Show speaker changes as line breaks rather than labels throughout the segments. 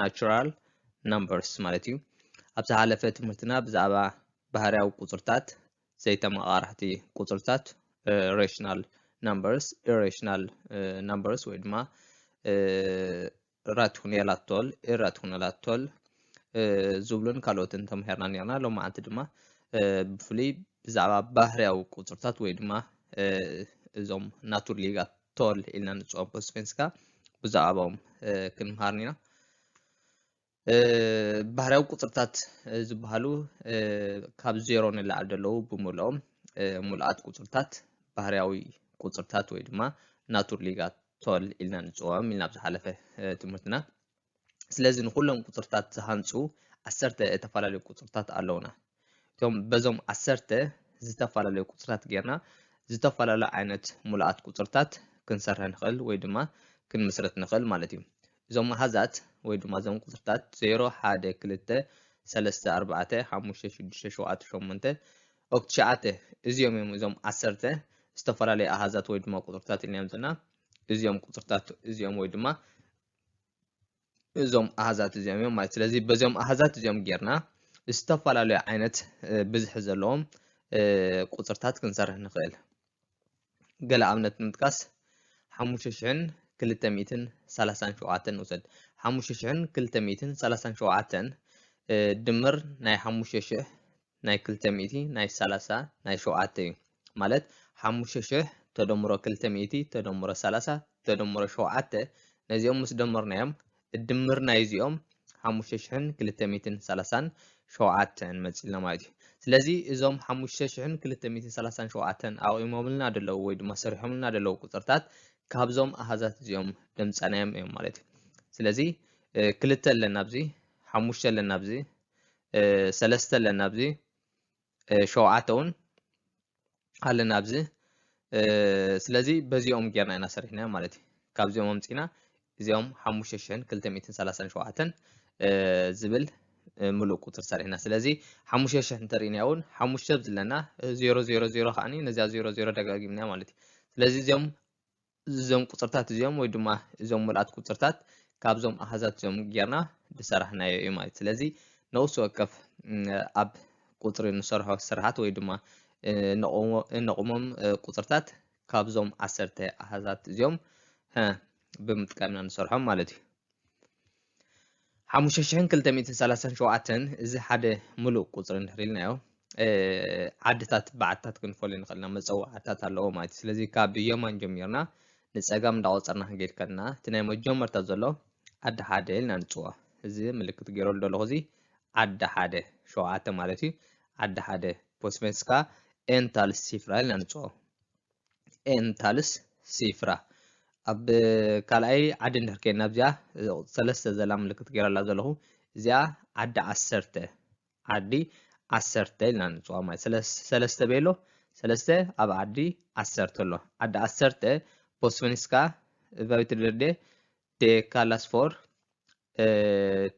Natural Numbers ማለት እዩ። ኣብ ዝሓለፈ ትምህርትና ብዛዕባ ባህርያዊ ቁጽርታት፣ ዘይተመቓራሕቲ ቁጽርታት፣ ሬሽናል ናምበርስ፣ ኢሬሽናል ናምበርስ ወይ ድማ ራትኩኔላቶል፣ ኢራትኩኔላቶል ዝብሉን ካልኦትን ተምሂርና ነርና። ሎም መዓልቲ ድማ ብፍሉይ ብዛዕባ ባህርያዊ ቁጽርታት ወይ ድማ እዞም ናቱር ሊጋት ቶል ኢልና ንፅኦም ፖ ስፔንስካ ብዛዕባኦም ክንምሃርን ኢና ባህርያዊ ቁፅርታት ዝበሃሉ ካብ ዜሮ ንላዕሊ ዘለዉ ብምልኦም ሙሉኣት ቁፅርታት ባህርያዊ ቁፅርታት ወይ ድማ ናቱር ሊጋ ቶል ኢልና ንፅውዖም ኢልና ብዝሓለፈ ትምህርትና ስለዚ ንኹሎም ቁጽርታት ዝሃንጹ ዓሰርተ እተፈላለዩ ቁጽርታት ኣለዉና። እቶም በዞም ዓሰርተ ዝተፈላለዩ ቁጽርታት ጌርና ዝተፈላለዩ ዓይነት ሙሉኣት ቁጽርታት ክንሰርሐ ንኽእል ወይ ድማ ክንምስረት ንኽእል ማለት እዩ። እዞም ኣሃዛት ወይ ድማ እዞም ቁጽርታት ዜሮ፣ ሓደ፣ ክልተ፣ ሰለስተ፣ ኣርባዕተ፣ ሓሙሽተ፣ ሽዱሽተ፣ ሸውዓተ፣ ሸሞንተ፣ ኦክ ትሽዓተ እዚኦም እዮም እዞም ዓሰርተ ዝተፈላለዩ ኣሃዛት ወይ ድማ ቁጽርታት ኢልና እዮም ዘለና እዚኦም ቁጽርታት እዚኦም ወይ ድማ እዞም ኣሃዛት እዚኦም እዮም ማለት ስለዚ በዚኦም ኣሃዛት እዚኦም ጌርና ዝተፈላለዩ ዓይነት ብዝሒ ዘለዎም ቁፅርታት ክንሰርሕ ንኽእል ገለ ኣብነት ንምጥቃስ ሓሙሽተ ሽሕን ክልተ ሚእትን ሰላሳን ሸውዓተን ንውሰድ ሓሙሽተ ሽሕን ክልተ ሚእትን ሰላሳን ሸውዓተን ድምር ናይ ሓሙሽተ ሽሕ ናይ ክልተ ሚእቲ ናይ ሰላሳ ናይ ሸውዓተ እዩ ማለት ሓሙሽተ ሽሕ ተደምሮ ክልተ ሚእቲ ተደምሮ ሰላሳ ተደምሮ ሸውዓተ ነዚኦም ምስ ደመርናዮም እድምር ናይ እዚኦም ሓሙሽተ ሽሕን ክልተ ሚእትን ሰላሳን ሸውዓተን መጺልና ማለት እዩ ስለዚ እዞም ሓሙሽተ ሽሕን ክልተ ሚእትን ሰላሳን ሸውዓተን ኣቑሞምልና ደለዉ ወይ ድማ ሰሪሖምልና ደለዉ ቁጽርታት ካብዞም ኣሃዛት እዚኦም ደምጸናዮም እዮም ማለት እዩ ስለዚ ክልተ ኣለና ኣብዚ ሓሙሽተ ኣለና ኣብዚ ሰለስተ ኣለና ኣብዚ ሸውዓተ እውን ኣለና ኣብዚ ስለዚ በዚኦም ጌርና ኢና ሰሪሕናዮ ማለት እዩ ካብዚኦም ኣምፂና እዚኦም ሓሙሽተ ሽሕን ክልተ ሚእትን ሰላሳን ሸውዓተን ዝብል ምሉእ ቁፅሪ ሰሪሕና ስለዚ ሓሙሽተ ሽሕ እንተርእናያ እውን ሓሙሽተ ዝለና ዜሮ ዜሮ ዜሮ ከዓኒ ነዚኣ ዜሮ ዜሮ ደጋጊምናያ ማለት እዩ ስለዚ እዚኦም እዞም ቁፅርታት እዚኦም ወይ ድማ እዞም ምልኣት ቁፅርታት ካብዞም ኣሃዛት እዚኦም ጌርና ዝሰራሕናዮ እዩ ማለት ስለዚ ነውሲ ወከፍ ኣብ ቁፅሪ ንሰርሖ ስራሓት ወይ ድማ እነቑሞም ቁፅርታት ካብዞም ዓሰርተ ኣሃዛት እዚኦም ብምጥቃምና ንሰርሖም ማለት እዩ ሓሙሽተ ሽሕን ክልተ ሚእትን ሰላሳን ሸውዓተን እዚ ሓደ ምሉእ ቁፅሪ እንድሕር ኢልናዮ ዓድታት ብዓድታት ክንፈልዮ ንኽእል ኢና መፀዋዕታት ኣለዎ ማለት እዩ ስለዚ ካብ የማን ጀሚርና ንፀጋም እንዳቆፀርና ክንገድ ከለና እቲ ናይ መጀመርታ ዘሎ ዓዲ ሓደ ኢልና ንፅዎ እዚ ምልክት ገይረሉ ዘለኹ እዚ ዓዲ ሓደ ሸውዓተ ማለት እዩ ዓዲ ሓደ ፖስቨንስካ ኤንታል ሲፍራ ኢልና ንፅዎ ኤን ታልስ ሲፍራ ኣብ ካልኣይ ዓዲ እንድሕር ከይና ኣብዚኣ ሰለስተ ዘላ ምልክት ገይረላ ዘለኹ እዚኣ ዓዲ ዓሰርተ ዓዲ ዓሰርተ ኢልና ንፅዋ ማለት ሰለስተ ቤሎ ሰለስተ ኣብ ዓዲ ዓሰርተ ኣሎ ዓዲ ዓሰርተ ቦስፈኒስካ ቫዊትድርዴ ዴካላስፎር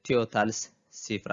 ቲዮታልስ ሲፍራ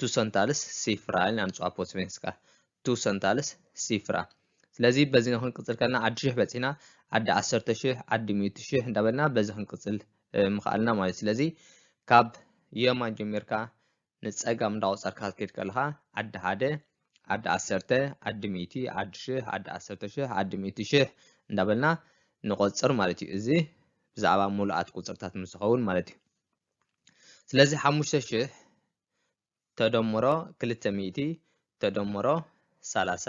ቱሰንታልስ ሲፍራ ኢልና ንፅዋ ፖ ስቬንስካ ቱሰንታልስ ሲፍራ ስለዚ በዚ ንክንቅፅል ከና ዓዲ ሽሕ በፂሕና ዓዲ ዓሰርተ ሽሕ ዓዲ ሚእቲ ሽሕ እንዳበልና በዚ ክንቅፅል ምኽኣልና ማለት እዩ ስለዚ ካብ የማን ጀሚርካ ንፀጋም እንዳቆፀርካ ክትከይድ ከለኻ ዓዲ ሓደ ዓዲ ዓሰርተ ዓዲ ሚእቲ ዓዲ ሽሕ ዓዲ ዓሰርተ ሽሕ ዓዲ ሚእቲ ሽሕ እንዳበልና ንቆፅር ማለት እዩ እዚ ብዛዕባ ሙሉኣት ቁፅርታት ምስ ዝኸውን ማለት እዩ ስለዚ ሓሙሽተ ሽሕ ተደምሮ ክልተ ሚእቲ ተደምሮ ሰላሳ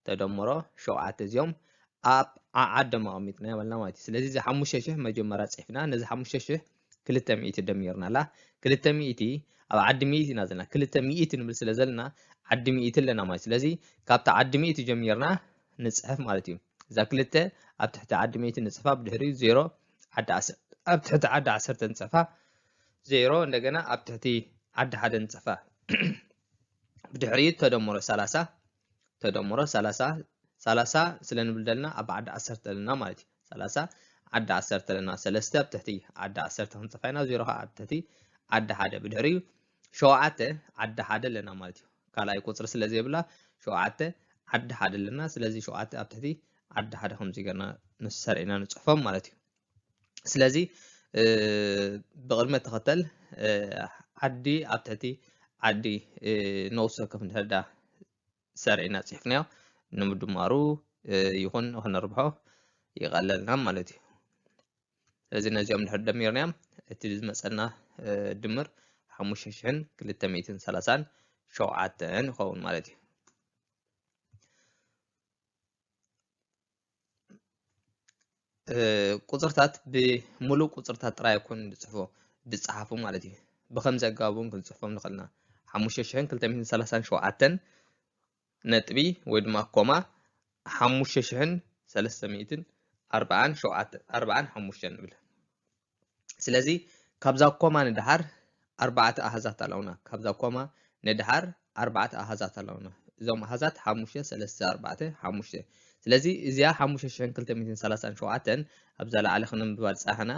ተደምሮ ሸውዓተ እዚኦም ኣብ ዓዓዶም ኣቐሚጥና በልና ማለት እዩ ስለዚ እዚ ሓሙሽተ ሽሕ መጀመርያ ፅሒፍና ነዚ ሓሙሽተ ሽሕ ክልተ ሚእቲ ደሚርናላ ክልተ ሚእቲ ኣብ ዓዲ ሚእቲ ኢና ዘለና ክልተ ሚእቲ ንብል ስለ ዘለና ዓዲ ሚእቲ ኣለና ማለት ስለዚ ካብቲ ዓዲ ሚእቲ ጀሚርና ንፅሕፍ ማለት እዩ እዛ ክልተ ኣብ ትሕቲ ዓዲ ሚእቲ ንፅሕፋ ብድሕሪኡ ዜሮ ዓዲ ዓሰርተ ኣብ ትሕቲ ዓዲ ዓሰርተ ንፀፋ ዜሮ እንደገና ኣብ ትሕቲ ዓዲ ሓደ ንፀፋ ብድሕሪኡ ተደምሮ ሰላሳ ተደምሮ ሰላሳ ሰላሳ ስለ ንብል ዘለና ኣብ ዓዲ ዓሰርተ ኣለና ማለት እዩ ሰላሳ ዓዲ ዓሰርተ ኣለና ሰለስተ ኣብ ትሕቲ ዓዲ ዓሰርተ ክንፀፋ ኢና ዜሮ ከዓ ኣብ ትሕቲ ዓዲ ሓደ ብድሕሪኡ ሸውዓተ ዓዲ ሓደ ኣለና ማለት እዩ ካልኣይ ቁፅሪ ስለ ዘይብላ ሸውዓተ ዓዲ ሓደ ኣለና ስለዚ ሸውዓተ ኣብ ትሕቲ ዓዲ ሓደ ከምዚ ገርና ንሰርዒና ንፅሕፎም ማለት እዩ ስለዚ ብቅድመ ተኸተል ዓዲ ኣብ ትሕቲ ዓዲ ነውሲ ወከፍ እንድሕዳ ሰርዒና ፅሒፍናዮ ንምድማሩ ይኹን ክነርብሖ ይቐለልና ማለት እዩ ስለዚ ነዚኦም ድሕር ደሚርናዮም እቲ ዝመፀና ድምር ሓሙሽተ ሽሕን ክልተ ሚእትን ሰላሳን ሸውዓተን ይኸውን ማለት እዩ ቁፅርታት ብምሉእ ቁፅርታት ጥራይ ኣይኮን ዝፅፎ ዝፀሓፉ ማለት እዩ ብከምዚ ኣገባብ እውን ክንፅፎም ንኽእልና ሓሙሽተ ሽሕን ክልተ ሚእትን ሰላሳን ሸውዓተን ነጥቢ ወይ ድማ ኮማ ሓሙሽተ ሽሕን ሰለስተ ሚእትን ኣርብዓን ሸውዓተን ኣርብዓን ሓሙሽተን ንብል ስለዚ ካብዛ ኮማ ንደሓር ኣርባዕተ ኣሃዛት ኣለውና ካብዛ ኮማ ንደሓር ኣርባዕተ ኣሃዛት ኣለውና እዞም ኣሃዛት ሓሙሽተ ሰለስተ ኣርባዕተ ሓሙሽተ ስለዚ እዚኣ ሓሙሽተ ሽሕን ክልተ ሚእትን ሰላሳን ሸውዓተን ኣብዛ ላዕሊ ክንብባል ፃሕና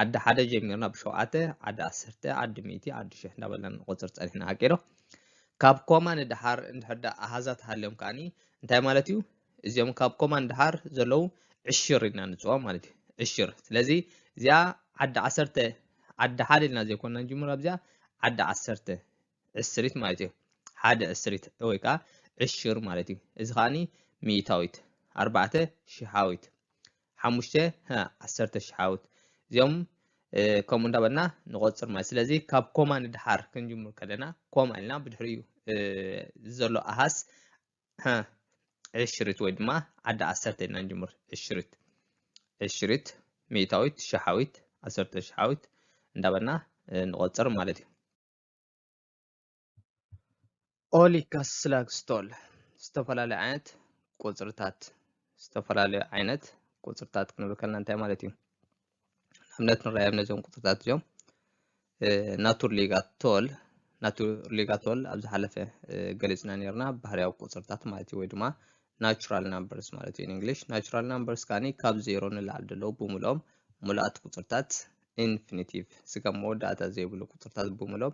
ዓዲ ሓደ ጀሚርና ብሸውዓተ ዓዲ ዓሰርተ ዓዲ ሚእቲ ዓዲ ሽሕ እንዳበልና ንቆፅር ፀኒሕና ሓቂዶ ካብ ኮማ ንደሓር እንድሕር ደኣ ኣሃዛት ሃልዮም ከኣኒ እንታይ ማለት እዩ? እዚኦም ካብ ኮማ ንደሓር ዘለዉ ዕሽር ኢልና ንጽውዖም ማለት እዩ። ዕሽር ስለዚ እዚኣ ዓዲ ዓሰርተ ዓዲ ሓደ ኢልና ዘይኮንና ንጅምር ኣብዚኣ ዓዲ ዓሰርተ ዕስሪት ማለት እዩ። ሓደ ዕስሪት ወይ ከዓ ዕሽር ማለት እዩ። እዚ ከኣኒ ሚእታዊት ኣርባዕተ ሽሓዊት ሓሙሽተ ሀ ዓሰርተ ሽሓውት እዚኦም ከምኡ እንዳበልና ንቆፅር ማለት ስለዚ ካብ ኮማ ንድሓር ክንጅምር ከለና ኮማ ኢልና ብድሕሪኡ ዘሎ ኣሃስ ዕሽሪት ወይ ድማ ዓዲ ዓሰርተ ኢልና ንጅምር ዕሽሪት ዕሽሪት ሚእታዊት ሸሓዊት ዓሰርተ ሸሓዊት እንዳበልና ንቆፅር ማለት እዩ ኦሊካስላክስቶል ዝተፈላለዩ ዓይነት ቁፅርታት ዝተፈላለዩ ዓይነት ቁፅርታት ክንብል ከለና እንታይ ማለት እዩ? ንኣብነት ንራዮም ነዞም ቁፅርታት እዚኦም ናቱርሊጋቶል ናቱርሊጋቶል ኣብ ዝሓለፈ ገሊፅና ነርና ባህርያዊ ቁፅርታት ማለት እዩ ወይ ድማ ናቹራል ናምበርስ ማለት እዩ እንግሊሽ ናቹራል ናምበርስ ካኒ ካብ ዜሮ ንላዕሊ ዘለዎ ብምሎም ሙሉኣት ቁፅርታት ኢንፊኒቲቭ ስጋብ መወዳእታ ዘይብሉ ቁፅርታት ብምሎም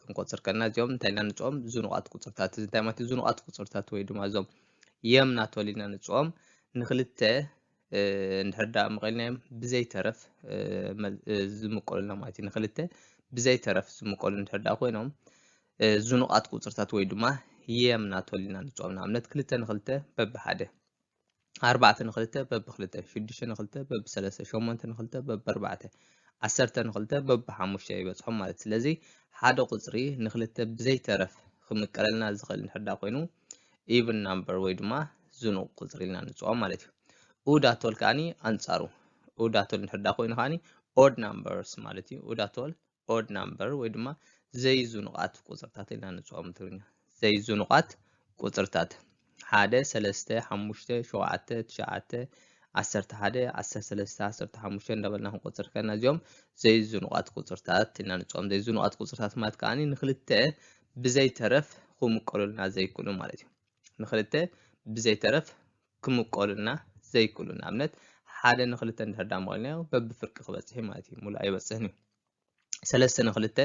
ክንቆፅር ከለና እዚኦም እንታይ ኢና ንፅኦም ዝኑቓት ቁፅርታት እዚ እንታይ ማለት እዩ ዝኑቓት ቁፅርታት ወይ ድማ እዞም የም ናቶል ኢና ንፅኦም ንክልተ እንድሕር ዳኣ መቐልናዮም ብዘይተረፍ ዝምቀሉልና ማለት እዩ ንክልተ ብዘይተረፍ ዝምቀሉ እንድሕር ዳኣ ኮይኖም ዝኑቓት ቁፅርታት ወይ ድማ የም ናቶል ኢና ንፅኦም ንኣብነት ክልተ ንክልተ በብሓደ ኣርባዕተ ንክልተ በቢ ክልተ ሽዱሽተ ንክልተ በቢ ሰለስተ ሸሞንተ ንክልተ በቢ ኣርባዕተ ዓሰርተ ንክልተ በቢ ሓሙሽተ ይበፅሖም ማለት ስለዚ ሓደ ቁፅሪ ንክልተ ብዘይተረፍ ክምቀለልና ዝኽእል እንድሕር ዳ ኮይኑ ኢቭን ናምበር ወይ ድማ ዝኑቕ ቁፅሪ ኢልና ንፅኦ ማለት እዩ ኡዳቶል ከዓኒ ኣንፃሩ ኡዳቶል እንድሕር ዳ ኮይኑ ከዓኒ ኦድ ናምበርስ ማለት እዩ ኡዳቶል ኦድ ናምበር ወይ ድማ ዘይዙኑቓት ቁፅርታት ኢልና ንፅኦም ትግርኛ ዘይዙኑቓት ቁፅርታት ሓደ ሰለስተ ሓሙሽተ ሸውዓተ ትሽዓተ ዓሰርተ ሓደ ዓሰርተ ሰለስተ ዓሰርተ ሓሙሽተ እንዳበልና ክንቆፅር ከና እዚኦም ዘይዙኑቓት ቁፅርታት ኢልና ንፅኦም ዘይዙኑቓት ቁፅርታት ማለት ከዓ ንክልተ ብዘይተረፍ ክምቀሉልና ዘይክእሉ ማለት እዩ ንክልተ ብዘይተረፍ ክምቀሉና ዘይክእሉ ንኣብነት ሓደ ንክልተ እንድሕር ዳኣ መቒልናዮ በብፍርቂ ክበጽሕ እዩ ማለት እዩ ሙሉእ ኣይበጽሕን እዩ ሰለስተ ንክልተ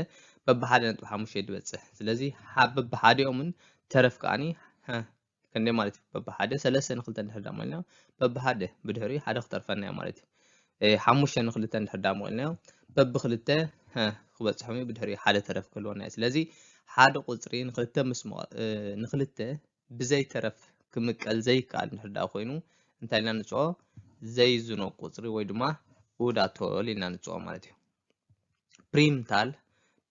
በብሓደ ነጥቢ ሓሙሽተ እዩ ዝበጽሕ ስለዚ በብሓዲኦምን ተረፍ ከዓኒ ክንደይ ማለት እዩ በብሓደ ሰለስተ ንክልተ እንድሕር ዳኣ መቒልናዮ በብሓደ ብድሕሪኡ ሓደ ክተርፈና እዩ ማለት እዩ ሓሙሽተ ንክልተ እንድሕር ዳኣ መቒልናዮ በብክልተ ክበጽሖም እዩ ብድሕሪኡ ሓደ ተረፍ ክህልወና እዩ ስለዚ ሓደ ቁጽሪ ንክልተ ምስ ንክልተ ብዘይ ተረፍ ክምቀል ዘይከኣል እንድሕር ደኣ ኮይኑ እንታይ ኢልና ንጽኦ ዘይዝኖ ቁጽሪ ወይ ድማ ኡዳቶል ኢልና ንጽኦ ማለት እዩ ፕሪምታል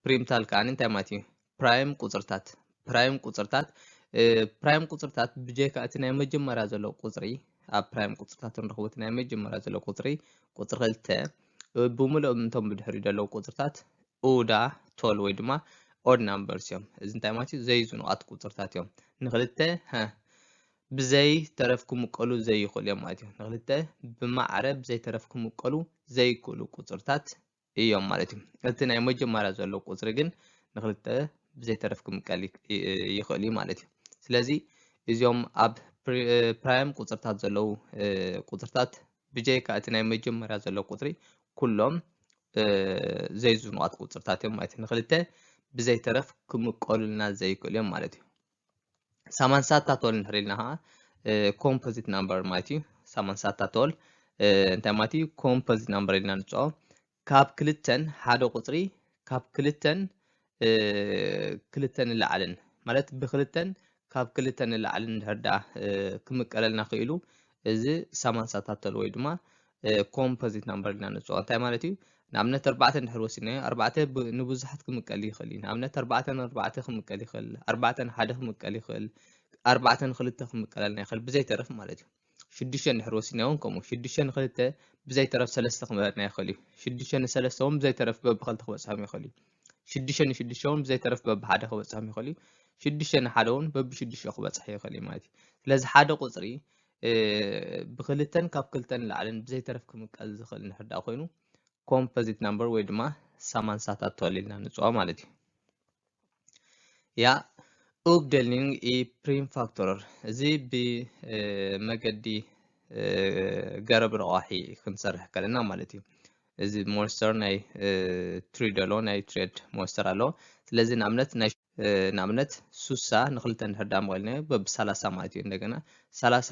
ፕሪምታል ከኣ እንታይ ማለት እዩ ፕራይም ቁጽርታት ፕራይም ቁጽርታት ፕራይም ቁጽርታት ብጀካ እቲ ናይ መጀመርያ ዘሎ ቁጽሪ ኣብ ፕራይም ቁጽርታት ንረኽቦ እቲ ናይ መጀመርያ ዘሎ ቁጽሪ ቁጽሪ ክልተ ብምሉኦም እቶም ብድሕሪኡ ዘለዉ ቁጽርታት ኡዳ ቶል ወይ ድማ ኦድ ናምበርስ እዮም። እዚ እንታይ ማለት እዩ? ዘይዙኑቓት ቁፅርታት እዮም። ንክልተ ሀ ብዘይ ተረፍ ክምቀሉ ዘይኽእሉ እዮም ማለት እዩ። ንክልተ ብማዕረ ብዘይ ተረፍ ክምቀሉ ዘይክእሉ ቁፅርታት እዮም ማለት እዩ። እቲ ናይ መጀመርያ ዘሎ ቁፅሪ ግን ንክልተ ብዘይ ተረፍ ክምቀል ይኽእል እዩ ማለት እዩ። ስለዚ እዚኦም ኣብ ፕራይም ቁፅርታት ዘለዉ ቁፅርታት ብጀይካ እቲ ናይ መጀመርያ ዘሎ ቁፅሪ ኩሎም ዘይዝኑቓት ቁፅርታት እዮም ማለት እዩ ንክልተ ብዘይተረፍ ክምቀሉልና ዘይክእሉ እዮም ማለት እዩ ሳማንሳታቶል እንድሕር ኢልና ከዓ ኮምፖዚት ናምበር ማለት እዩ ሳማንሳታቶል እንታይ ማለት እዩ ኮምፖዚት ናምበር ኢልና ንፅኦ ካብ ክልተን ሓደ ቁፅሪ ካብ ክልተን ክልተ ንላዕልን ማለት ብክልተን ካብ ክልተ ንላዕልን እንድሕር ደኣ ክምቀለልና ክኢሉ እዚ ሳማንሳ ታተል ወይ ድማ ኮምፖዚት ናምበር ኢልና ንፅኦ እንታይ ማለት እዩ ንኣብነት ኣርባዕተ እንድሕር ወሲድናዮ ኣርባዕተ ንብዙሓት ክምቀል ይኽእል እዩ ንኣብነት ኣርባዕተ ንኣርባዕተ ክምቀል ይኽእል ኣርባዕተ ንሓደ ክምቀል ይኽእል ኣርባዕተ ንክልተ ክምቀለልና ይኽእል ብዘይተረፍ ማለት እዩ ሽዱሽተ እንድሕር ወሲድና እውን ከምኡ ሽዱሽተ ንክልተ ብዘይተረፍ ሰለስተ ክመረጥና ይኽእል እዩ ሽዱሽተ ንሰለስተ እውን ብዘይተረፍ በብክልተ ክበፅሖም ይኽእል እዩ ሽዱሽተ ንሽዱሽተ እውን ብዘይተረፍ በብሓደ ክበፅሖም ይኽእል እዩ ሽዱሽተ ንሓደ እውን በብሽዱሽተ ክበፅሐ ይኽእል እዩ ማለት እዩ ስለዚ ሓደ ቁፅሪ ብክልተን ካብ ክልተን ላዕልን ብዘይተረፍ ክምቀል ዝኽእል ንሕዳ ኮይኑ ኮምፖዚት ናምበር ወይ ድማ ሳማንሳታት ተወሊልና ንፅዋ ማለት እዩ ያ ኡብደልኒንግ ኢ ፕሪምፋክቶረር እዚ ብመገዲ ገረብ ረቋሒ ክንሰርሕ ከለና ማለት እዩ እዚ ሞስተር ናይ ትሪድ ኣሎ ናይ ትሬድ ሞስተር ኣሎ ስለዚ ንኣብነት ናይ ንኣብነት ሱሳ ንክልተ እንድሕር ዳመቐልና በብ ሰላሳ ማለት እዩ እንደገና ሰላሳ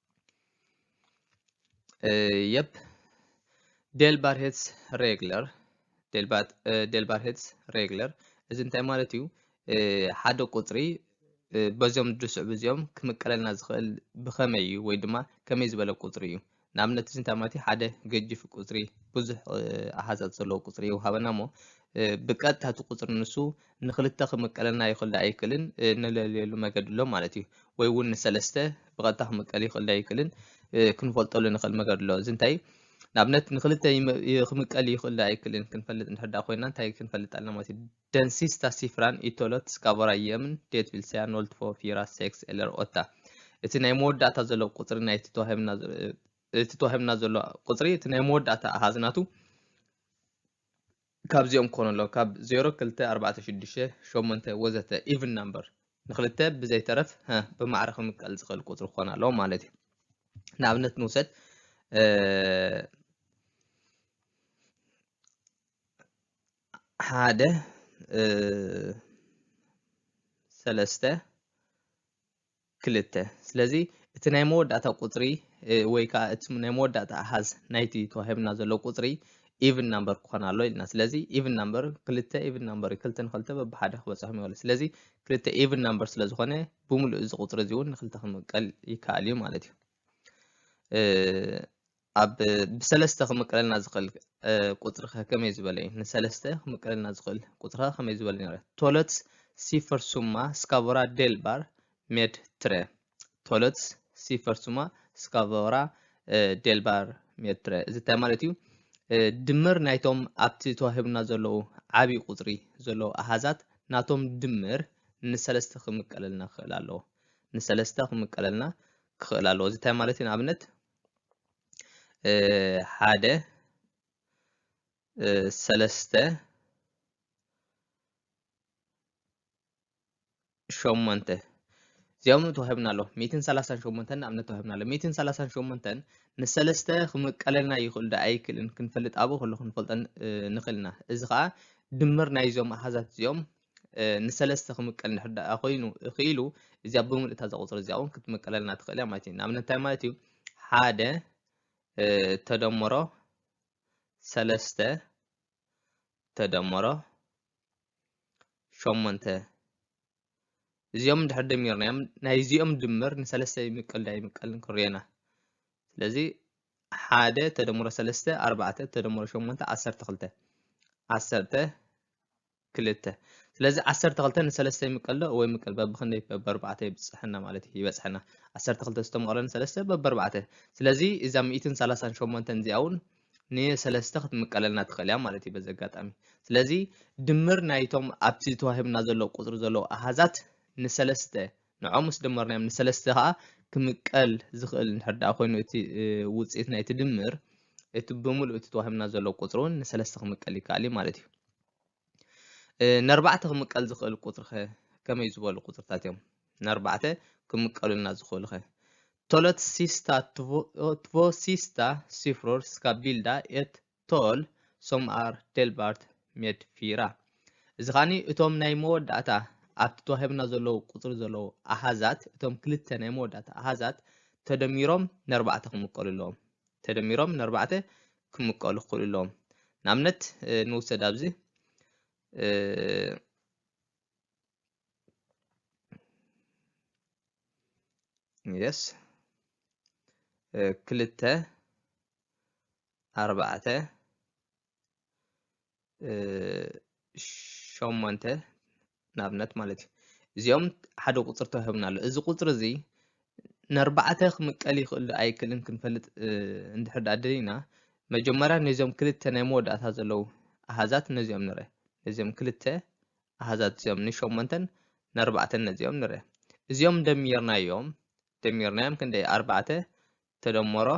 የፕ ዴልባርሄትስ ሬግለር ዴልባርሄትስ ሬግለር እዚ እንታይ ማለት እዩ ሓደ ቁፅሪ በዚኦም ድስዕቡ እዚኦም ክምቀለልና ዝኽእል ብኸመይ እዩ ወይ ድማ ከመይ ዝበለ ቁፅሪ እዩ ንኣብነት እዚ እንታይ ማለት እዩ ሓደ ገጅፍ ቁፅሪ ብዙሕ ኣሃዛት ዘለዎ ቁፅሪ ይውሃበና እሞ ብቀጥታ እቲ ቁፅሪ ንሱ ንክልተ ክምቀለና ይኽእልዶ ኣይክእልን እንለልየሉ መገዲ ኣሎ ማለት እዩ። ወይ እውን ንሰለስተ ብቐጥታ ክምቀል ይኽእልዶ ኣይክእልን ክንፈልጠሉ ንኽእል መገዲ ኣሎ። እዚ እንታይ ንኣብነት ንክልተ ክምቀል ይኽእልዶ ኣይክእልን ክንፈልጥ እንድሕር ደኣ ኮይንና እንታይ ክንፈልጥ ኣለና ማለት እዩ። Den sista siffran i talet ska vara jämn, det vill säga 0, 2, 4, 6 eller 8. እቲ ናይ መወዳእታ ዘሎ ቁጽሪ ናይቲ ተዋሂብና እቲ ተዋሂብና ዘሎ ቁጽሪ እቲ ናይ መወዳእታ ኣሃዝ ናቱ ካብዚኦም ክኾኑ ኣለዎ ካብ ዜሮ ክልተ ኣርባዕተ ሽዱሽተ ሸሞንተ ወዘተ ኢቭን ናምበር ንክልተ ብዘይተረፍ ሀ ብማዕረ ክምቀል ዝኽእል ቁፅሪ ክኾን ኣለዎ ማለት እዩ ንኣብነት ንውሰድ ሓደ ሰለስተ ክልተ። ስለዚ እቲ ናይ መወዳእታ ቁጽሪ ወይ ከኣ እቲ ናይ መወዳእታ ኣሃዝ ናይቲ ተዋሂብና ዘሎ ቁጽሪ ኢቭን ናምበር ክኾን ኣሎ ኢልና። ስለዚ ኢቭን ናምበር ክልተ ኢቭን ናምበር እዩ። ክልተ ንክልተ በብሓደ ክበጽሖም ይኸእሉ። ስለዚ ክልተ ኢቭን ናምበር ስለ ዝኾነ ብምሉእ እዚ ቁጽሪ እዚ እውን ንክልተ ክምቀል ይከኣል እዩ ማለት እዩ። ኣብ ብሰለስተ ክምቀለልና ዝኽእል ቁጽሪ ከ ከመይ ዝበለ እዩ? ንሰለስተ ክምቀለልና ዝኽእል ቁጽሪ ከ ከመይ ዝበለ ነይረ? ቶለት ሲፈር ሱማ ስካቮራ ዴልባር ሜድ ትረ ቶለት ሲፈር ሱማ ስካቮራ ዴልባር ሜድ ትረ እዚ እንታይ ማለት እዩ? ድምር ናይቶም ኣብቲ ተዋሂቡና ዘለዉ ዓብዪ ቁጽሪ ዘለዉ ኣሃዛት ናቶም ድምር ንሰለስተ ክምቀለልና ክኽእል ኣለዎ ንሰለስተ ክምቀለልና ክኽእል ኣለዎ እዚ እንታይ ማለት እዩ ንኣብነት ሓደ ሰለስተ ሸሞንተ እዚኦም ተዋሂብና ኣሎ ሚትን ሰላሳን ሸሞንተን ንኣብነት ተዋሂብና ኣሎ ሚትን ሰላሳን ሸሞንተን ንሰለስተ ክምቀለልና ይኽእል ዶ ኣይክእልን ክንፈልጥ ኣብኡ ከሎ ክንፈልጦ ንኽእል ኢና እዚ ከዓ ድምር ናይዞም ኣሃዛት እዚኦም ንሰለስተ ክምቀል እንድሕር ደኣ ኮይኑ ክኢሉ እዚኣ ብምሉእ እታ ቁፅሪ እዚኣ እውን ክትምቀለልና ትኽእል እያ ማለት እዩ ንኣብነት እንታይ ማለት እዩ ሓደ ተደምሮ ሰለስተ ተደምሮ ሸሞንተ እዚኦም እንድሕር ደሚርናዮም ናይ እዚኦም ድምር ንሰለስተ ይምቀል ዳ ይምቀልን ክንሪኦና ስለዚ ሓደ ተደምሮ ሰለስተ ኣርባዕተ ተደምሮ ሸሞንተ ዓሰርተ ክልተ ዓሰርተ ክልተ ስለዚ ዓሰርተ ክልተ ንሰለስተ ይምቀሎ ወይ ምቀል በብክንደይ በበርባዕተ ይብፅሐና ማለት እዩ ይበፅሐና ዓሰርተ ክልተ ዝተመቕሎ ንሰለስተ በበርባዕተ ስለዚ እዛ ሚእትን ሰላሳን ሸሞንተን እዚኣ እውን ንሰለስተ ክትምቀለልና ትኽእል እያ ማለት እዩ በዚ ኣጋጣሚ ስለዚ ድምር ናይቶም ኣብቲ ተዋሂብና ዘሎ ቁፅሪ ዘለዉ ኣሃዛት ንሰለስተ ንዖም ምስ ደመርናዮም ንሰለስተ ከዓ ክምቀል ዝኽእል እንድሕር ደኣ ኮይኑ እቲ ውፅኢት ናይቲ ድምር እቲ ብምሉእ እቲ ተዋሂብና ዘሎ ቁፅሪ እውን ንሰለስተ ክምቀል ይከኣል እዩ ማለት እዩ ነርባዕተ ክምቀል ዝኽእል ቁጽሪኸ ከመይ ዝበሉ ቁጽርታት እዮም ነርባዕተ ክምቀሉልና ዝኽእሉኸ? ቶለትሲስታ ትቮሲስታ ሲፍሮር ስካ ቢልዳ ኤት ቶል ሶምኣር ዴልባርት ሜድ ፊራ እዚ ኻኒ እቶም ናይ መወዳእታ ኣብቲ ተዋሂብና ዘለዉ ቁፅሪ ዘለዉ ኣሃዛት እቶም ክልተ ናይ መወዳእታ ኣሃዛት ተደሚሮም ነርባዕተ ክምቀሉ ኣለዎም ተደሚሮም ንኣርባዕተ ክምቀሉ ክኽእሉ ኣለዎም። ንኣብነት ንውሰድ ኣብዚ የስ ክልተ ኣርባዕተ ሸሞንተ ንኣብነት ማለት እዩ እዚኦም ሓደ ቁፅሪ ተዋሂቡና ኣሎ እዚ ቁፅሪ እዚ ንኣርባዕተ ክምቀል ይኽእል ኣይክእልን ክንፈልጥ እንድሕር ዳኣ ደሊና መጀመርያ ነዚኦም ክልተ ናይ መወዳእታ ዘለዉ ኣሃዛት ነዚኦም ንረ ነዚኦም ክልተ ኣሃዛት እዚኦም ንሸሞንተን ንኣርባዕተን ነዚኦም ንረ እዚኦም ደሚርናዮም ደሚርናዮም ክንደይ ኣርባዕተ ተደምሮ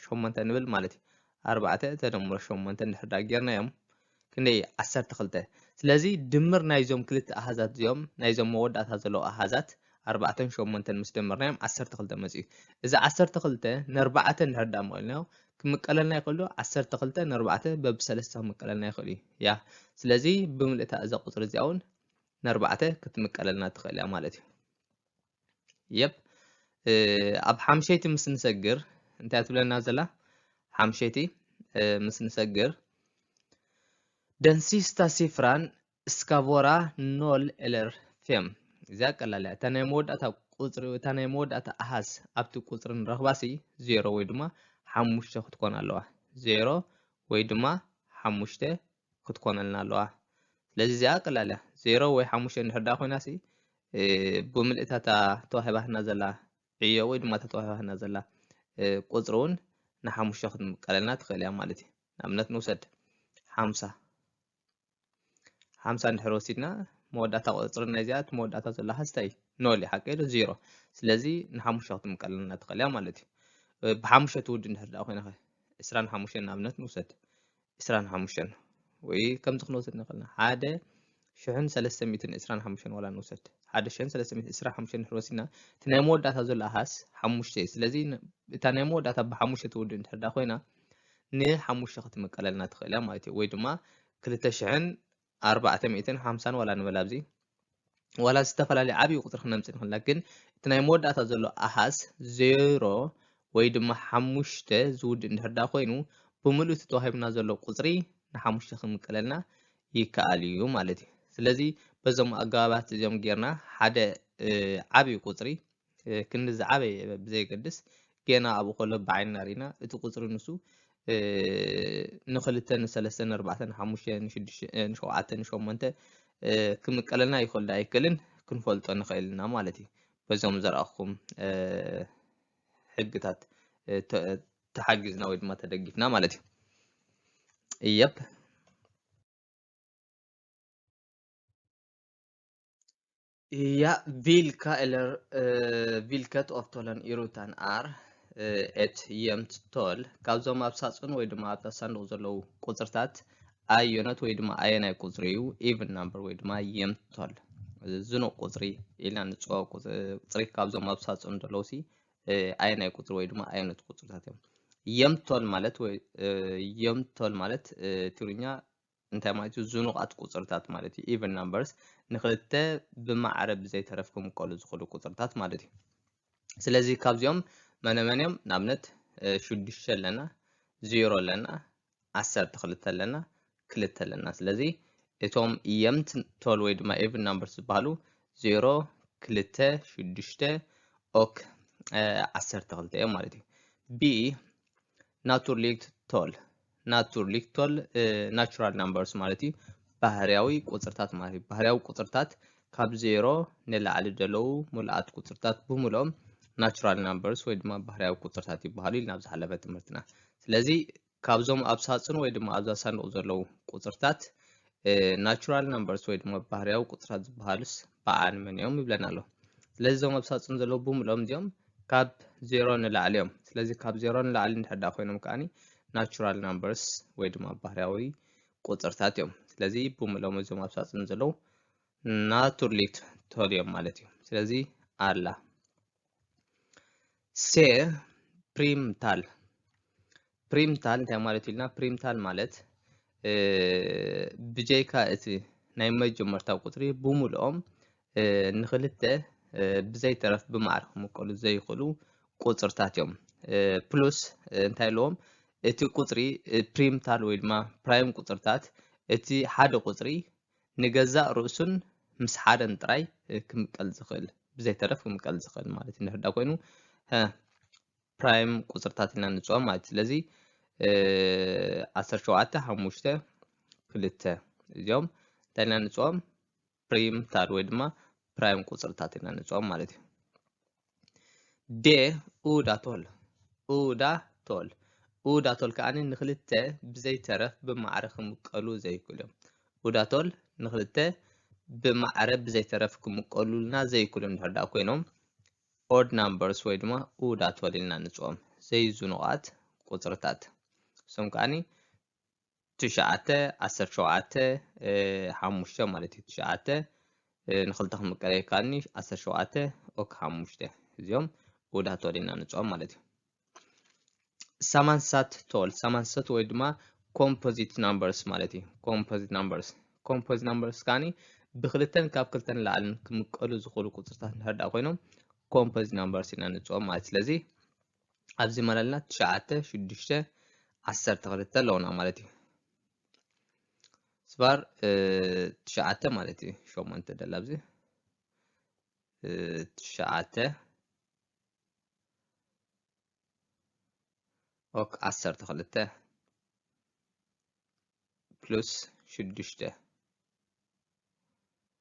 ሸሞንተ ንብል ማለት እዩ ኣርባዕተ ተደምሮ ሸሞንተ እንድሕር ዳ ጌርናዮም ክንደይ እዩ ዓሰርተ ክልተ ስለዚ ድምር ናይዞም ክልተ ኣሃዛት እዚኦም ናይዞም መወዳእታ ዘለዉ ኣሃዛት ኣርባዕተን ሸሞንተን ምስ ደመርናዮም ዓሰርተ ክልተ መፅኡ እዚ ዓሰርተ ክልተ ነርባዕተ እንድሕር ዳ መቂልናዮ ክምቀለልና ይኽእል ዶ ዓሰርተ ክልተ ነርባዕተ በብሰለስተ ክምቀለልና ይኽእል እዩ ያ ስለዚ ብምልእታ እዛ ቁፅሪ እዚኣ እውን ነርባዕተ ክትምቀለልና ትኽእል እያ ማለት እዩ የፕ ኣብ ሓምሸይቲ ምስ ንሰግር እንታይ ትብለና ዘላ ሓምሸይቲ ምስ ንሰግር ደንሲስታ ሲፍራን እስካቮራ ኖል ኤለር ፌም እዚኣ ቀላል እያ እታ ናይ መወዳእታ ቁፅሪ እታ ናይ መወዳእታ ኣሃዝ ኣብቲ ቁፅሪ ንረኽባሲ ዜሮ ወይ ድማ ሓሙሽተ ክትኮን ኣለዋ ዜሮ ወይ ድማ ሓሙሽተ ክትኮነልና ኣለዋ ስለዚ እዚኣ ቀላል እያ ዜሮ ወይ ሓሙሽተ እንድሕር ደኣ ኮይና ሲ ብምልእታ እታ ተዋሂባትና ዘላ ዕዮ ወይ ድማ እታ ተዋሂባትና ዘላ ቁፅሪ እውን ንሓሙሽተ ክትምቀለልና ትኽእል እያ ማለት እዩ ንኣብነት ንውሰድ ሓምሳ ሓምሳ እንድሕር ወሲድና መወዳእታ ቁፅሪ ናይ እዚኣ እቲ መወዳእታ ዘሎ ሃስታይ ኖል እዩ ሓቂ ዶ ዜሮ ስለዚ ንሓሙሽተ ክትምቀለልና ትኽእል እያ ማለት እዩ ብሓሙሽተ ትውድ እንድሕር ደኣ ኮይና ኸ ዕስራን ሓሙሽተን ንኣብነት ንውሰድ ዕስራን ሓሙሽተን ወይ ከምዚ ክንወስድ ንኽእል ኢና ሓደ ሽሕን ሰለስተ ሚእትን ዕስራን ሓሙሽተን ዋላ ንውሰድ ሓደ ሽሕን ሰለስተ ሚእትን ዕስራ ሓሙሽተን ድሕሪ ወሲድና እቲ ናይ መወዳእታ ዘሎ ኣሃስ ሓሙሽተ እዩ ስለዚ እታ ናይ መወዳእታ ብሓሙሽተ ትውድእ እንድሕር ዳ ኮይና ንሓሙሽተ ክትምቀለልና ትኽእል እያ ማለት እዩ ወይ ድማ ክልተ ሽሕን ኣርባዕተ ሚእትን ሓምሳን ዋላ ንበል ኣብዚ ዋላ ዝተፈላለየ ዓብዪ ቁፅሪ ክነምፅእ ንኽእል ኢና ግን እቲ ናይ መወዳእታ ዘሎ ኣሃዝ ዜሮ ወይ ድማ ሓሙሽተ ዝውድእ እንድሕር ዳ ኮይኑ ብምሉእ እቲ ተዋሂቡና ዘሎ ቁፅሪ ንሓሙሽተ ክምቀለልና ይከኣል እዩ ማለት እዩ ስለዚ በዞም ኣገባባት እዚኦም ጌርና ሓደ ዓብዪ ቁፅሪ ክንዲ ዝዓበየ ብዘየገድስ ጌና ኣብኡ ከሎ ብዓይንና ርኢና እቲ ቁፅሪ ንሱ ንክልተ ንሰለስተ ንኣርባዕተ ንሓሙሽተ ንሸውዓተ ንሸሞንተ ክምቀለልና ይኽእል ዶ ኣይክእልን ክንፈልጦ ንኽእል ኢና ማለት እዩ በዞም ዘረኣኹም ሕግታት ተሓጊዝና ወይ ድማ ተደጊፍና ማለት እዩ እየብ Ja, vilka eller eh, vilket av tollen i rutan är eh, ett jämnt tal? ካብዞም ኣብ ሳጹን ወይ ድማ ኣብታ ሳንዱቕ ዘለዉ ቁጽርታት ኣየኖት ወይ ድማ ኣየናይ ቁጽሪ እዩ ኢቭን ናምበር ወይ ድማ የምት ታል ዝኑቕ ቁጽሪ ኢልና ንጽዋ ቁጽሪ ካብዞም ኣብ ሳጹን ዘለዉ ሲ ኣየናይ ቁጽሪ ወይ ድማ ኣየኖት ቁጽርታት እዮም የምት ታል ማለት ወይ የምት ታል ማለት ትግርኛ እንታይ ማለት እዩ ዝኑቓት ቁጽርታት ማለት እዩ ኢቨን ናምበርስ ንክልተ ብማዕረ ብዘይተረፍ ክምቀሉ ዝኽእሉ ቁጽርታት ማለት እዩ ስለዚ ካብዚኦም መነመን እዮም ንኣብነት ሽዱሽተ ኣለና ዜሮ ኣለና ዓሰርተ ክልተ ኣለና ክልተ ኣለና ስለዚ እቶም የምት ቶል ወይ ድማ ኤቭን ናምበር ዝበሃሉ ዜሮ ክልተ ሽዱሽተ ኦክ ዓሰርተ ክልተ እዮም ማለት እዩ ቢ ናቱርሊክት ቶል ናቱርሊክ ቶል ናቹራል ናምበርስ ማለት እዩ ባህርያዊ ቁፅርታት ማለት እዩ ባህርያዊ ቁፅርታት ካብ ዜሮ ንላዕሊ ዘለዉ ሙሉኣት ቁፅርታት ብምልኦም ናቹራል ናምበርስ ወይ ድማ ባህርያዊ ቁፅርታት ይበሃሉ ኢልና ኣብ ዝሓለፈ ትምህርትና ስለዚ ካብዞም ኣብ ሳፅን ወይ ድማ ኣብዛ ሳንዱቕ ዘለዉ ቁፅርታት ናቹራል ነምበርስ ወይ ድማ ባህርያዊ ቁፅራት ዝበሃሉስ በዓል መን እዮም ይብለና ኣሎ። ስለዚ እዞም ኣብ ሳፅን ዘለዉ ብምሎም እዚኦም ካብ ዜሮ ንላዕሊ እዮም። ስለዚ ካብ ዜሮ ንላዕሊ እንድሕር ዳኣ ኮይኖም ከዓኒ ናቹራል ናምበርስ ወይ ድማ ባህርያዊ ቁፅርታት እዮም። ስለዚ ብምሎም እዞም ኣብ ሳፅን ዘለዉ ናቱርሊት ተልዮም ማለት እዩ። ስለዚ ኣላ ሴር ፕሪምታል ፕሪምታል እንታይ ማለት ኢልና ፕሪምታል ማለት ብጀይካ እቲ ናይ መጀመርታ ቁፅሪ ብምልኦም ንክልተ ብዘይተረፍ ብማዕር ክምቀሉ ዘይኽእሉ ቁፅርታት እዮም። ፕሉስ እንታይ ኣለዎም እቲ ቁፅሪ ፕሪምታል ወይ ድማ ፕራይም ቁፅርታት እቲ ሓደ ቁፅሪ ንገዛእ ርእሱን ምስ ሓደን ጥራይ ክምቀል ዝኽእል ብዘይተረፍ ክምቀል ዝኽእል ማለት እዩ ንርዳ ኮይኑ ፕራይም ቁፅርታት ኢና ንፅኦ ማለት እዩ ስለዚ ዓሰርተ ሸውዓተ ሓሙሽተ ክልተ እዚኦም እንታይ ኢና ንፅኦም ፕሪም ታር ወይ ድማ ፕራይም ቁፅርታት ኢና ንፅኦም ማለት እዩ ዴ ኡዳ ቶል ኡዳ ቶል ኡዳ ቶል ከኣ ንክልተ ብዘይተረፍ ብማዕረ ክምቀሉ ዘይክእሉ እዮም። ኡዳ ቶል ንክልተ ብማዕረ ብዘይተረፍ ክምቀሉልና ዘይክእሉ እንድሕር ደኣ ኮይኖም ኦድ ናምበርስ ወይ ድማ ኡዳ ቶል ኢልና ንፅኦም ዘይዙኑቓት ቁፅርታት እሶም ከኣ ትሽዓተ ዓሰርተ ሸውዓተ ሓሙሽተ ማለት እዩ ትሽዓተ ንክልተ ክምቀለ ይከኣልኒ ዓሰርተ ሸውዓተ ኦክ ሓሙሽተ እዚኦም ውዳት ተወዲና ንፅኦም ማለት እዩ ሳማንሳት ቶል ሳማንሰት ወይ ድማ ኮምፖዚት ናምበርስ ማለት እዩ ኮምፖዚት ናምበርስ ኮምፖዚት ናምበርስ ከዓኒ ብክልተን ካብ ክልተን ላዕልን ክምቀሉ ዝኽእሉ ቁፅርታት እንድሕር ኮይኖም ኮምፖዚት ናምበርስ ኢና ንፅኦም ማለት ስለዚ ኣብዚ ማለልና ትሽዓተ ሽዱሽተ ዓሰርተ ክልተ ኣለውና ማለት እዩ ስባር ትሽዓተ ማለት እዩ ሸሞንተ ደላ ኣብዚ ትሽዓተ ኦክ ዓሰርተ ክልተ ፕሉስ ሽዱሽተ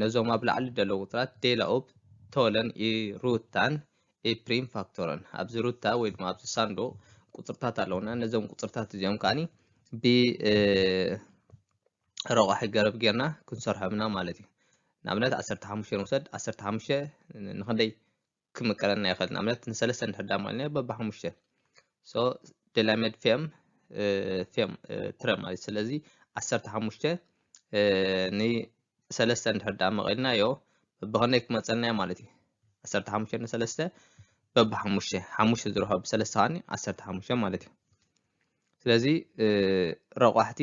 ነዞም ኣብ ላዕሊ ደለዉ ቁጽራት ዴላ ኡፕ ቶለን ኢ ሩታን ኢ ፕሪም ፋክቶረን ኣብዚ ሩታ ወይ ድማ ኣብዚ ሳንዱቕ ቁጽርታት ኣለዉና ነዞም ቁጽርታት እዚኦም ከዓኒ ብ ረቋሒ ገረብ ጌርና ክንሰርሖም ኢና ማለት እዩ ንኣብነት ዓሰርተ ሓሙሽተ ንውሰድ ዓሰርተ ሓሙሽተ ንክንደይ ክምቀረልና ይኽእል ንኣብነት ንሰለስተ እንድሕር ዳሞ ኣልና በባ ሓሙሽተ ሶ ደላመድ ፌም ፌም ትረ ማለት ስለዚ ዓሰርተ ሓሙሽተ ንሰለስተ እንድሕር ዳ መቐልናዮ በብኸንደይ ክመፀልናዮ ማለት እዩ ዓሰርተ ሓሙሽተ ንሰለስተ በባ ሓሙሽተ ሓሙሽተ ዝረኸብ ብሰለስተ ከዓኒ ዓሰርተ ሓሙሽተ ማለት እዩ ስለዚ ረቋሕቲ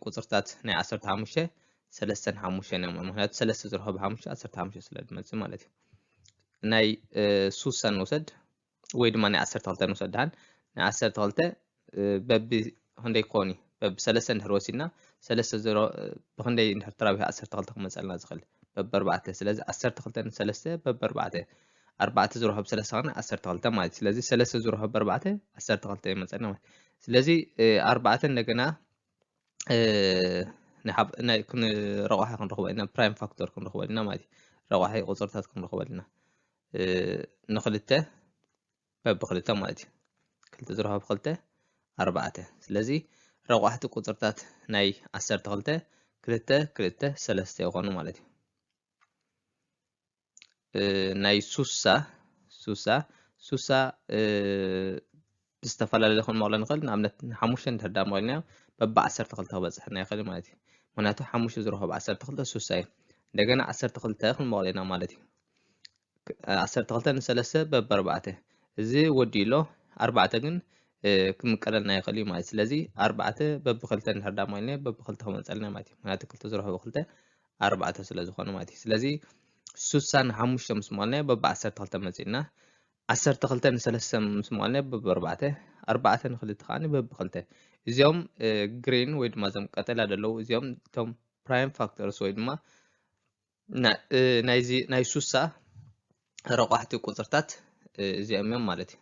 ቁፅርታት ናይ ዓሰርተ ሓሙሽተ ሰለስተን ሓሙሽተን እዮም ምክንያቱ ሰለስተ ዝርሖ ብሓሙሽተ ዓሰርተ ሓሙሽተ ስለ ዝመፅእ ማለት እዩ ናይ ሱሳ ንውሰድ ወይ ድማ ናይ ዓሰርተ ክልተ ንውሰድ ድሓን ናይ ዓሰርተ ክልተ በቢ ክንደይ ክኸውን እዩ በቢ ሰለስተ እንድሕር ወሲድና ሰለስተ ዝሮ ብክንደይ እንድሕር ተራቢሑ ዓሰርተ ክልተ ክመፀልና ዝኽእል በቢ ኣርባዕተ ስለዚ ዓሰርተ ክልተ ንሰለስተ በቢ ኣርባዕተ ኣርባዕተ ዝርሆ ብ ሰለስተ ከና ዓሰርተ ክልተ ማለት እዩ። ስለዚ ሰለስተ ዝርሆ ብ ኣርባዕተ ዓሰርተ ክልተ ይመጸና ማለት ስለዚ ኣርባዕተ እንደገና ናይ ረቋሒ ክንረኽቦ ኢና ፕራይም ፋክተር ክንረኽቦ ኢና ማለት እዩ ረቋሒ ቁፅርታት ክንረኽቦ ኢና ንክልተ በብክልተ ማለት እዩ ክልተ ዝረኸብ ክልተ ኣርባዕተ ስለዚ ረቋሕቲ ቁፅርታት ናይ ዓሰርተ ክልተ ክልተ ክልተ ሰለስተ ይኾኑ ማለት እዩ ናይ ሱሳ ሱሳ ሱሳ ብዝተፈላለዩ ክንመቕሎ ንኽእል ንኣብነት ሓሙሽተ እንድሕር ዳ መቒልናዮ በቢ ዓሰርተ ክልተ ክበፅሐና ይኽእል ማለት እዩ ምክንያቱ ሓሙሽተ ዝረኸ ብ ዓሰርተ ክልተ ሱሳ እዩ እንደገና ዓሰርተ ክልተ ክንመቕሎ ኢና ማለት እዩ ዓሰርተ ክልተ ንሰለስተ በቢ ኣርባዕተ እዚ ወዲኡ ኣሎ ኣርባዕተ ግን ክምቀለልና ይኽእል እዩ ማለት ስለዚ ኣርባዕተ በቢ ክልተ እንድሕር ዳ መቒልናዮ በቢ ክልተ ክመፀልና ማለት እዩ ምክንያቱ ክልተ ዝረኸ ብ ክልተ ኣርባዕተ ስለ ዝኾነ ማለት እዩ ስለዚ ሱሳን ሓሙሽተ ምስ መዋልናዮ በብ ዓሰርተ ክልተ መፂእና ዓሰርተ ክልተ ንሰለስተ ምስ መዋልናዮ በብ ኣርባዕተ ኣርባዕተ ንክልተ ከዓኒ በብ ክልተ እዚኦም ግሪን ወይ ድማ እዞም ቀጠልያ ዘለዉ እዚኦም እቶም ፕራይም ፋክተርስ ወይ ድማ ናይዚ ናይ ሱሳ ረቋሕቲ ቁፅርታት እዚኦም እዮም ማለት እዩ